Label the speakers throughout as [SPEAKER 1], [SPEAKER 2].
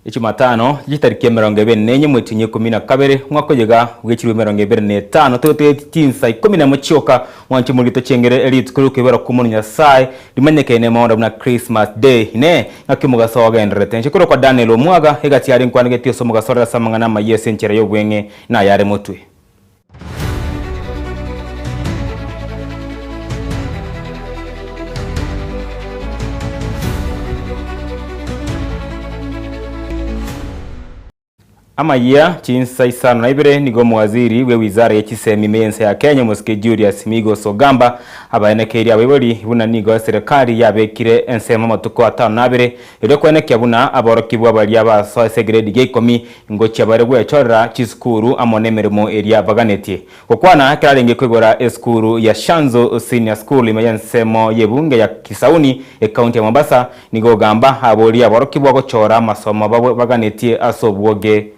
[SPEAKER 1] Echumatano yetariki emerongo ebere na enye mwechunye ikomi na kabere mwaka oyega bwechirwe emerongo ebere na etano togotegeti chinsa ikomi na emo chioka mwanche morigeto chengere eri rituko riokoibera kw'Omonwa Nyasaye rimanyekane nemaunda buna Christmas Day inee ng'aki omogaso ogendererete enchera korwa kwa Daniel omwaga egasi yare nkwanegeti ase omogaso orere ase amang'ana amaya ase enchera y'obweng'e nayare motwe Amayia chinsa isano na ibere nigo omowaziri bwe wizara ye chisemi me ense ya Kenya omosike Julius Migos Ogamba abaenekeirie abaibori buna nigo eserekari yabekire ensemo amatuko atano na abere Erio koenekia buna aborokigwa baria basoa ase egredi gia ikomi, ingochia bare gwechorera chisukuru amo nemeremo eria baganetie. Gokwana kerarenge koigora esukuru ya Shanzu Senior School ime y'ensemo y'ebunge ya Kisauni, ekaunti ya Mombasa, nigo ogamba aboria aborokigwa gochora amasomo abwo baganetie ase obwoge.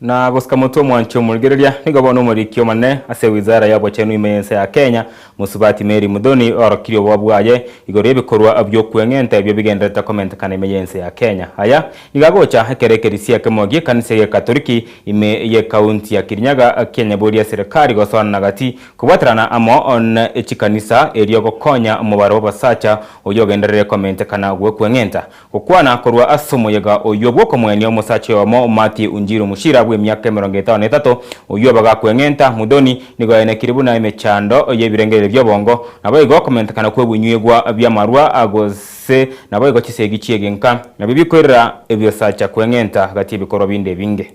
[SPEAKER 1] Na gosika motwe omwanche omorigereria nigo bono omoriki omonene ase wizara y'obochenu ime y'ense ya Kenya, Mosubati Mary Muthoni, oorokirie obobe bwaye igoro y'ebikorwa bi'okweng'enta ebio bigendererete komentekana ime y'ense ya Kenya. Aya nigo agocha ekero ekerisia ekemo gi'ekanisa y'Egatoriki ime y'ekaunti ya Kirinyaga kianyaboria serikari gosoanana gati kobwaterana amo ne chikanisa erio gokonya omobaro bw'abasacha oyio ogenderere komentekana gw'okweng'enta Gokwana korwa ase omoyega oyio bw'okomwenia omosacha oyomo Matthew Unjiru Muchira bw'emiaka emerongo etano na etato, oyio obaga kweng'enta Muthoni, nigo aenekirie buna emechando y'ebirengererio bi'obongo, naboigo okomentekana kw'ebinywegwa bi'amarwa, gose naboigo chisegi chi'egenka, nabio bikoirera ebiosacha kweng'enta gati ebikorwa binde ebinge.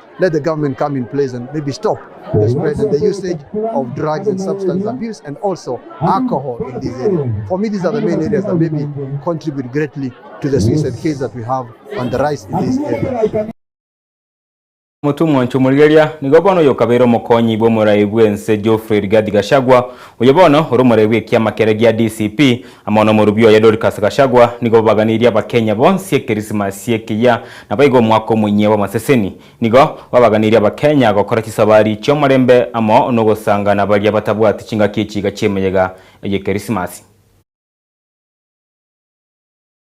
[SPEAKER 2] Omotomwa inche omorigereria,
[SPEAKER 1] nigo bono oyokabeire omokonyi bw'omoraai bw'ense Geoffrey Rigathi Gachagua, oyo bono ore omoraai bw'ekiama kere gia DCP, Amo nomorwbia oye Dorcas Gachagua nigo babaganirie abakenya bonsi ekerisimas ekiya naboigo omwaka omonyie bw'amaseseni. Nigo babaganirie abakenya gokora chisabari chiomorembe amo nogosanga nabaria batabwati chingaki echiga chiemeyega ey'ekerisimas.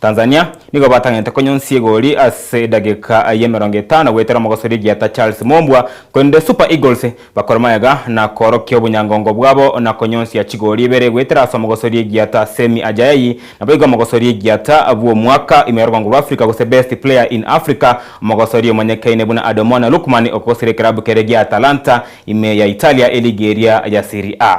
[SPEAKER 1] Tanzania, nigo batang'ete konyonsia egori ase edageka y'emerongo etano goetera omogosori egieta Charles Mombwa, korende Super Eagles bakore magega na koorokia obonyangongo bwabo na konyonsia chigori ibere goetera ase omogosori egieta Semi Ajaei, naboigo omogosori egieta bw'omwaka ime y'orogongo rwa Africa gose Best Player in Africa, omogosori omonyekaine buna Adomona Lookman okogosera ekerabu kere gia Atalanta ime ya Italia eligi eria ya Serie A.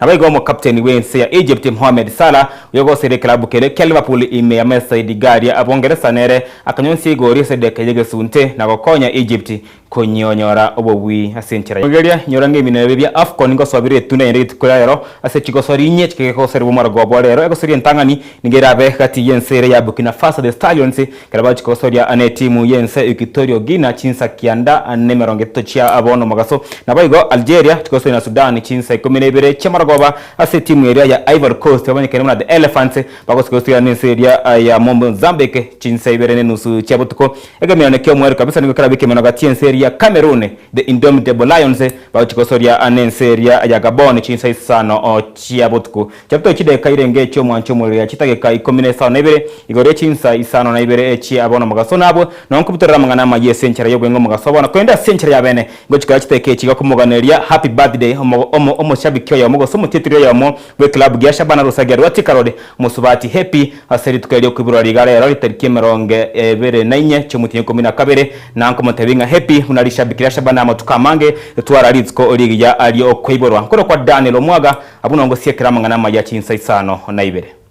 [SPEAKER 1] Naboigo omokapteni bw'ense ya Egypt Mohamed Salah, oyo ogoseria ekelabu keria kia Liverpool ime ya Merseyside Derby ya Abongeresa nere akanyonsia igori ase edageka y'egesunte na gokonya Egypt konyioyora obobui ase enchera ya Rigeria inyora ng'ebina ebi bia Afcon ngosoa bire etunda naende rituko ya rero ase chigosoria inye chike gegosoria bomaroko obwo rero egosoria entang'ani nigo erabe gati y'ense ere ya Burkina Faso The Stallions Ekero bachia gosoria netimu y'ense Equatorial Guinea chinsa kianda nemerongo etato chia abwo nomogaso. Naboigo Algeria tigosoria na Sudan chinsa ikomi na ibere chi'amarogoba ase etimu eria ya Ivory Coast babanyekene buna The Elephants bagosika gosoria nense eria ya Mozambique chinsa ibere nenusu chia botuko. Egemirane ki'omoerio kabisa nigo kerabe ekemeno gati y'ense eria ya Cameroon The Indomitable Lions bagochia gosoria nense eria ya Gabon chinsa isano chia botuko. Chapter Chideka irenge echi'omwancho omoriria chidageka ikomi nesano naibere, igoro ye chinsa isano naibere echie abana omogaso nabwo, na onkobutorera amang'ana amayia ase enchera y'obwengo omogaso obana, korende ase enchera y'abene ngochikora chidageka echi iga komoganereria Happy Birthday omo omo omoshabiki oyomo gose omotiatiri oyomo bw'ekilabu gia Shabana Rusagia Rwati Karori Mosubati Happy ase rituko erio riokoiborora riga rero ritariki emerongo ebere na inye chi'omotienyi ikomi na kabere, na nkomotebia ng'a Happy buna rishabiki ria Shabana amatuko amange etwara rituko rigiya ri'okoiborwa. Nkorokwa Daniel Omwaga. Abwo nao ngosiekera amang'ana amaya chinsa isano na ibere.